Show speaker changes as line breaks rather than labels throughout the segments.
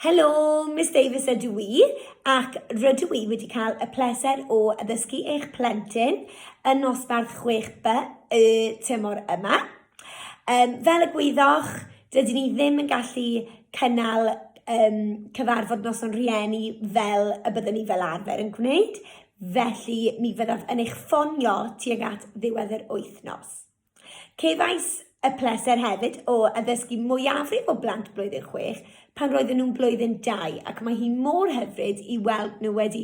Helo, Miss Davies ydw i ac rydw i wedi cael y pleser o addysgu eich plentyn yn nosbarth 6B y tymor yma. Um, fel y gwyddoch, dydyn ni ddim yn gallu cynnal um, cyfarfod noson rhieni fel y byddwn ni fel arfer yn gwneud, felly mi fyddaf yn eich ffonio tuag at ddiwedd yr wythnos. Cefais y pleser hefyd o addysgu mwyafrif o blant blwyddyn chwech pan roedden nhw'n blwyddyn dau ac mae hi mor hyfryd i weld nhw wedi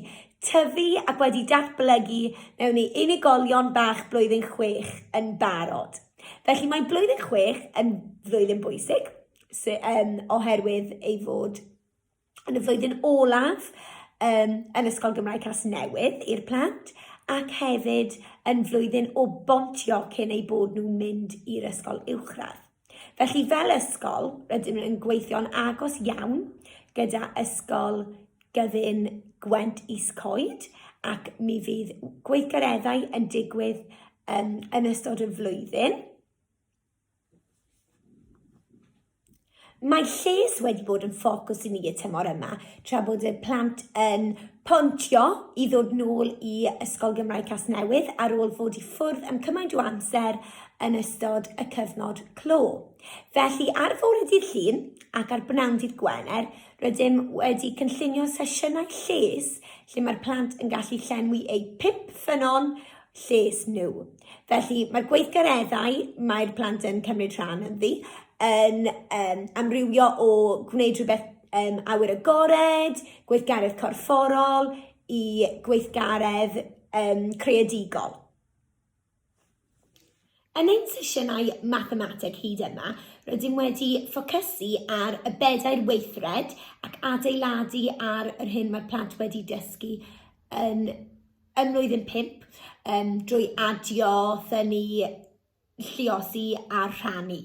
tyfu ac wedi datblygu mewn i unigolion bach blwyddyn chwech yn barod. Felly mae blwyddyn chwech yn flwyddyn bwysig sy- yym, oherwydd ei fod yn y flwyddyn olaf um, yn Ysgol Gymraeg Casnewydd i'r plant ac hefyd yn flwyddyn o bontio cyn eu bod nhw'n mynd i'r ysgol uwchradd. Felly fel ysgol, rydym yn gweithio'n agos iawn gyda ysgol gyfun Gwent Is Coed ac mi fydd gweithgareddau yn digwydd um, yn ystod y flwyddyn. Mae lles wedi bod yn ffocws i ni y tymor yma, tra bod y plant yn pontio i ddod nôl i Ysgol Gymraeg Casnewydd ar ôl fod i ffwrdd am cymaint o amser yn ystod y cyfnod clo. Felly, ar fore dydd Llun ac ar bnawn dydd Gwener, rydym wedi cynllunio sesiynau lles lle mae'r plant yn gallu llenwi eu pump ffynnon lles nhw. Felly, mae'r gweithgareddau mae'r plant yn cymryd rhan ynddi yn um, amrywio o gwneud rhywbeth um, awyr agored, gweithgaredd corfforol, i gweithgaredd um, creadigol. Yn ein sesiynau Mathemateg hyd yma, rydym wedi ffocysu ar y bedair weithred ac adeiladu ar yr hyn mae'r plant wedi dysgu yn ym mlwyddyn pump um, drwy adio, thynnu, lliosi a rhannu.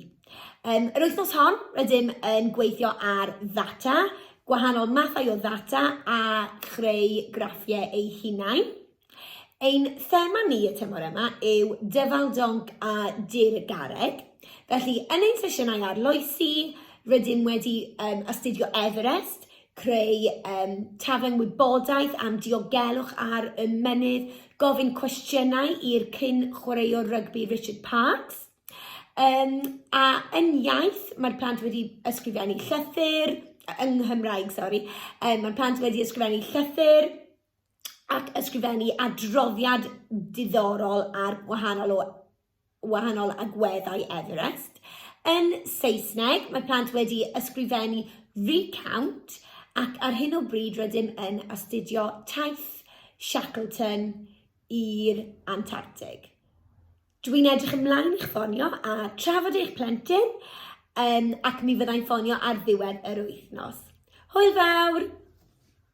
Um, yr wythnos hon, rydym yn gweithio ar ddata, gwahanol mathau o ddata a chreu graffiau eu hunain. Ein thema ni y tymor yma yw Dyfal Donc a Dirgareg. Felly, yn ein sesiynau arloesi, rydym wedi um, astudio Everest, creu um, tafen wybodaeth am diogelwch ar y mynydd, gofyn cwestiynau i'r cyn chwaraewr rygbi Richard Parks, um, a yn iaith mae'r plant wedi ysgrifennu llythyr, yng Nghymraeg, sori, um, mae'r plant wedi ysgrifennu llythyr, ac ysgrifennu adroddiad diddorol ar wahanol, o, wahanol agweddau Everest. Yn Saesneg, mae plant wedi ysgrifennu recount ac ar hyn o bryd rydym yn astudio taith Shackleton i'r Antarctic. Dwi'n edrych ymlaen i'ch ffonio a trafod eich plentyn um, ac mi fyddai'n ffonio ar ddiwedd yr wythnos. Hwyl fawr!